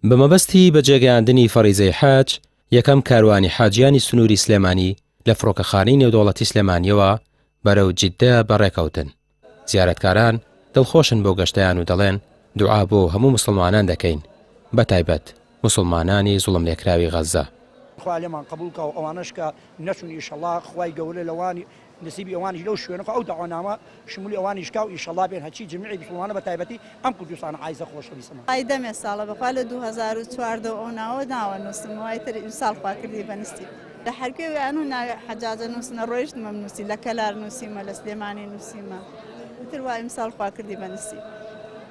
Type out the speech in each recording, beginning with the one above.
بە مەبەستی بەجێگەیاندنی فەریزەی حەج، یەکەم کاروانی حاجیانی سنووری سلێمانی لە فڕۆکەخانەی نێودەوڵەتی سلێمانییەوە بەرەو جیددە بەڕێکەوتن، زیارەتکاران دڵخۆشن بۆ گەشتەیان و دەڵێن، دوعا بۆ هەموو موسڵمانان دەکەین، بەتایبەت. موسڵمانانی زوڵملێکراوی غەززە. خوا لێمان قبوڵ کا و ئەوانەش کە نەچون ئیشەڵا خوای گەورە لەوانی نسیبی ئەوانیش لەو شوێنە کا و ئەو دەعوەنامە شمولی ئەوانیش کا و ئیشەڵا بێن هەرچی جمیعی مسوڵمانە بە تایبەتی ئەم کوردستانە عایزە خۆشەویستەمان. وای دەمێ ساڵە بەخوا لە دوو هەزار و چواردە ئەو ناوە ناوە نوسم وای تر ئیمساڵ خوا کردی بە نسیب لە حەرکێ ویانوو ناوی حەجاجە نوسنە ڕۆیشتمم نوسی لە کەلار نوسیمە لە سلێمانی نوسیمە ئیتر وای ئیمساڵ خوا کردی بە نسیب.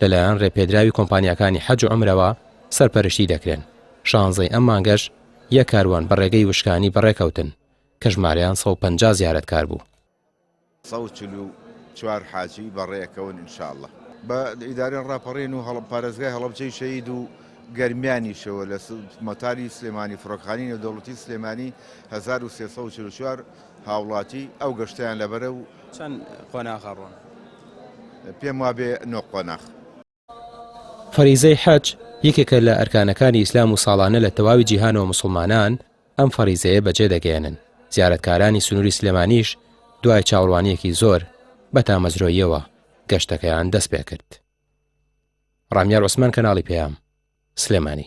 لەلایەن ڕێپێدراوی کۆمپانیاکانی حەج و عومرەوە سەرپەرشتی دەکرێن، شانزەی ئەم مانگەش یەک کاروان بە ڕێگەی وشکانی بەڕێکەوتن کە ژمارەیان سەد و پەنجا زیارەتکار بوو. سەد و چل و چوار حاجی بەڕێکەون ان شاء اللە. بە ئیدارەی ڕاپەڕین و پارێزگای هەڵەبجەی شەهید و گەرمیانیشەوە لە مەتاری سلێمانی فڕۆکەخانەی نێودەوڵەتی سلێمانی هەزار و سێ سەد و چل و چوار هاوڵاتی ئەو گەشتەیان لەبەرە و. چەند قۆناغە ڕۆن؟ پێم وابێ نۆ قۆناغ. فەریزەی حەج یەکێکە لە ئەرکانەکانی ئیسلام و ساڵانە لە تەواوی جیهانەوە موسڵمانان ئەم فەریزەیە بەجێ دەگەیەنن، زیارەتکارانی سنووری سلێمانیش دوای چاوەڕوانییەکی زۆر بە تامەزرۆییەوە گەشتەکەیان دەست پێ کرد. ڕامیار عوسمان کەناڵی پەیام، سلێمانی.